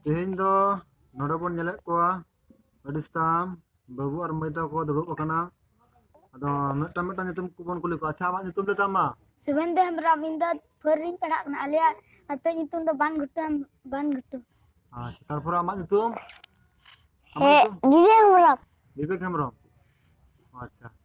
ᱛᱮᱦᱮᱧ ᱫᱚ ᱱᱚᱰᱮ ᱵᱚᱱ ᱧᱮᱞᱮᱫ ᱠᱚᱣᱟ ᱟᱹᱰᱤ ᱥᱟᱢ ᱵᱟᱹᱵᱩ ᱟᱨ ᱢᱟᱹᱭ ᱛᱟᱠᱚ ᱫᱩᱲᱩᱵ ᱟᱠᱟᱱᱟ ᱟᱫᱚ ᱢᱤᱫᱴᱟᱝ ᱢᱤᱫᱴᱟᱝ ᱧᱩᱛᱩᱢ ᱠᱚᱵᱚᱱ ᱠᱩᱞᱤ ᱠᱚᱣᱟ ᱟᱪᱪᱷᱟ ᱟᱢᱟᱜ ᱧᱩᱛᱩᱢ ᱞᱟᱹᱭ ᱛᱟᱢ ᱢᱟ ᱥᱩᱵᱮᱱᱫᱨᱚ ᱦᱮᱢᱵᱨᱚᱢ ᱤᱧ ᱫᱚ ᱯᱷᱳᱨ ᱨᱤᱧ ᱯᱟᱲᱦᱟᱜ ᱠᱟᱱᱟ ᱟᱞᱮᱭᱟᱜ ᱟᱛᱳ ᱧᱩᱛᱩᱢ ᱫᱚ ᱵᱟᱱ ᱜᱷᱩᱴᱩ ᱵᱟᱱ ᱜᱷᱩᱴᱩ ᱟᱪᱪᱷᱟ ᱛᱟᱨᱯᱚᱨ ᱟᱢᱟᱜ ᱧᱩᱛᱩᱢ ᱟᱢᱟᱜ ᱧᱩᱛᱩᱢ ᱵᱤᱵᱮᱠ ᱦᱮᱢᱵᱨᱚᱢ ᱵᱤᱵᱮᱠ ᱦᱮᱢᱵᱨᱚᱢ ᱟᱪᱪᱷᱟ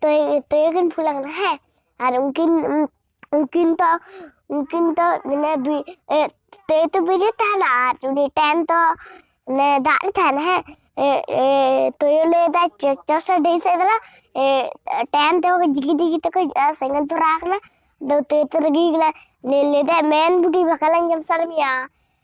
ᱛᱚᱭ ᱛᱚᱭᱚ ᱠᱤᱱ ᱯᱷᱩᱞ ᱟᱠᱟᱱᱟ ᱦᱮᱸ ᱟᱨ ᱩᱱᱠᱤᱱ ᱩᱱᱠᱤᱱ ᱫᱚ ᱩᱱᱠᱤᱱ ᱫᱚ ᱢᱟᱱᱮ ᱛᱚᱭᱚ ᱛᱚ ᱵᱤᱨ ᱨᱮ ᱛᱟᱦᱮᱱᱟ ᱟᱨ ᱩᱱᱤ ᱴᱮᱱ ᱫᱚ ᱢᱟᱱᱮ ᱫᱟᱜ ᱨᱮ ᱛᱟᱦᱮᱱᱟ ᱦᱮᱸ ᱛᱚᱭᱚ ᱞᱟᱹᱭᱫᱟ ᱪᱚᱥᱚ ᱰᱟᱹᱦᱤ ᱥᱮᱫ ᱫᱟᱬᱟ ᱴᱮᱱ ᱛᱮ ᱡᱤᱜᱤ ᱡᱤᱜᱤ ᱛᱮᱠᱚ ᱥᱮᱸᱜᱮᱞ ᱫᱷᱚᱨᱟᱣ ᱟᱠᱟᱱᱟ ᱟᱫᱚ ᱛᱚᱭᱚ ᱛᱚ ᱨᱟᱹᱜᱤ ᱠᱟᱱᱟ ᱞᱟᱹᱭᱫᱟᱭ ᱢᱮᱱ ᱵᱩᱰᱷᱤ ᱵᱟᱠᱟᱞᱟᱧ ᱡᱚᱢ ᱥᱟᱨ ᱢᱮᱭᱟ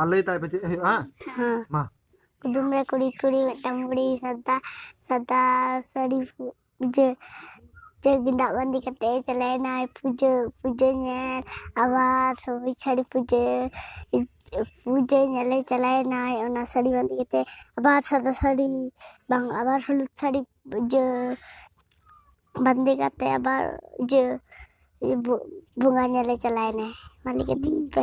ᱟᱨ ᱞᱟᱹᱭ ᱛᱟᱭ ᱯᱮ ᱪᱮᱫ ᱦᱩᱭᱩᱜᱼᱟ ᱦᱮᱸ ᱦᱮᱸ ᱢᱟ ᱠᱩᱫᱩᱢ ᱨᱮ ᱠᱩᱲᱤ ᱠᱩᱲᱤ ᱢᱤᱫᱴᱟᱝ ᱵᱩᱲᱤ ᱥᱟᱫᱟ ᱥᱟᱫᱟ ᱥᱟᱹᱲᱤ ᱯᱩ- ᱯᱩᱡᱟᱹ ᱯᱩᱡᱟᱹ ᱜᱮᱸᱫᱟᱜ ᱵᱟᱸᱫᱮ ᱠᱟᱛᱮ ᱪᱟᱞᱟᱣᱮᱱᱟᱭ ᱯᱩᱡᱟᱹ ᱯᱩᱡᱟᱹ ᱧᱮᱞ ᱟᱵᱟᱨ ᱥᱚᱵᱩᱡ ᱥᱟᱹᱲᱤ ᱯᱩᱡᱟᱹ ᱯᱩᱡᱟᱹ ᱧᱮᱞᱮ ᱪᱟᱞᱟᱣᱮᱱᱟᱭ ᱚᱱᱟ ᱥᱟᱹᱲᱤ ᱵᱟᱸᱫᱮ ᱠᱟᱛᱮ ᱟᱵᱟᱨ ᱥᱟᱫᱟ ᱥᱟᱹᱲᱤ ᱵᱟᱝ ᱟᱵᱟᱨ ᱦᱚᱞᱩᱫ ᱥᱟᱹᱲᱤ ᱯᱩᱡᱟᱹ ᱵᱟᱸᱫᱮ ᱠᱟᱛᱮ ᱟᱵᱟᱨ ᱤᱭᱟᱹ ᱵᱚ- ᱵᱚᱸᱜᱟ ᱧᱮᱞᱮ ᱪᱟᱞᱟᱣᱮᱱᱟᱭ ᱢᱟ ᱞᱟᱹᱭ ᱠᱟᱹᱛᱤᱧ ᱯᱮ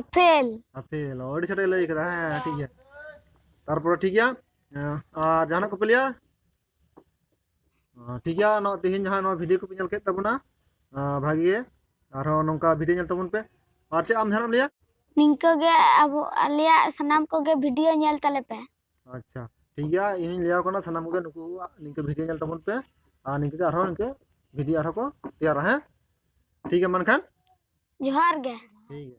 ᱟᱯᱮᱞ ᱟᱯᱮᱞ ᱚ, ᱟᱹᱰᱤ ᱪᱷᱟᱴᱮ ᱞᱟᱹᱭ ᱠᱟᱫᱟ ᱦᱮᱸ ᱴᱷᱤᱠ ᱜᱮᱭᱟ ᱛᱟᱨᱯᱚᱨᱮ ᱴᱷᱤᱠ ᱜᱮᱭᱟ ᱦᱮᱸ, ᱟᱨ ᱡᱟᱦᱟᱱᱟᱜ ᱠᱚᱯᱮ ᱞᱟᱹᱭᱟ ᱚ, ᱴᱷᱤᱠ ᱜᱮᱭᱟ ᱱᱚᱣᱟ ᱛᱮᱦᱮᱧ ᱡᱟᱦᱟᱸ ᱱᱚᱣᱟ ᱵᱷᱤᱰᱤᱭᱳ ᱠᱚᱯᱮ ᱧᱮᱞ ᱠᱮᱫ ᱛᱟᱵᱚᱱᱟ ᱟ, ᱵᱷᱟᱜᱮ ᱜᱮ ᱟᱨᱦᱚᱸ ᱱᱚᱝᱠᱟ ᱵᱷᱤᱰᱤᱭᱳ ᱧᱮᱞ ᱛᱟᱵᱚᱱ ᱯᱮ ᱟᱨ ᱪᱮᱫ ᱟᱢ ᱡᱟᱦᱟᱱᱟᱜ ᱮᱢ ᱞᱟᱹᱭᱟ ᱱᱤᱝᱠᱟᱹ ᱜᱮ ᱟᱵᱚ ᱟᱞᱮᱭᱟᱜ ᱥᱟᱱᱟᱢ ᱠᱚᱜᱮ ᱵᱷᱤᱰᱤᱭᱳ ᱧᱮᱞ ᱛᱟᱞᱮ ᱯᱮ ᱟᱪᱪᱷᱟ ᱴᱷᱤᱠ ᱜᱮᱭᱟ ᱤᱧᱤᱧ ᱞᱟᱹᱭᱟᱠᱚ ᱠᱟᱱᱟ ᱥᱟᱱᱟᱢ ᱠᱚᱜᱮ ᱱᱩᱠᱩ ᱱᱤᱝᱠᱟᱹ ᱵᱷᱤᱰᱭᱳ ᱧᱮᱞ ᱛᱟᱵᱚᱱ ᱯᱮ ᱟᱨ ᱱᱤᱝᱠᱟᱹ ᱜᱮ ᱟᱨᱦᱚᱸ ᱱᱤᱝᱠᱟᱹ ᱵᱷᱤᱰᱭᱳ ᱟᱨᱦᱚᱸ ᱠᱚ ᱛᱮᱭᱟᱨᱟ ᱦᱮᱸ ᱴᱷᱤᱠ ᱜᱮᱭᱟ ᱢᱟ ᱮᱱᱠᱷᱟᱱ ᱡᱚᱦᱟᱨ ᱜᱮ ᱴᱷᱤᱠ ᱜᱮᱭᱟ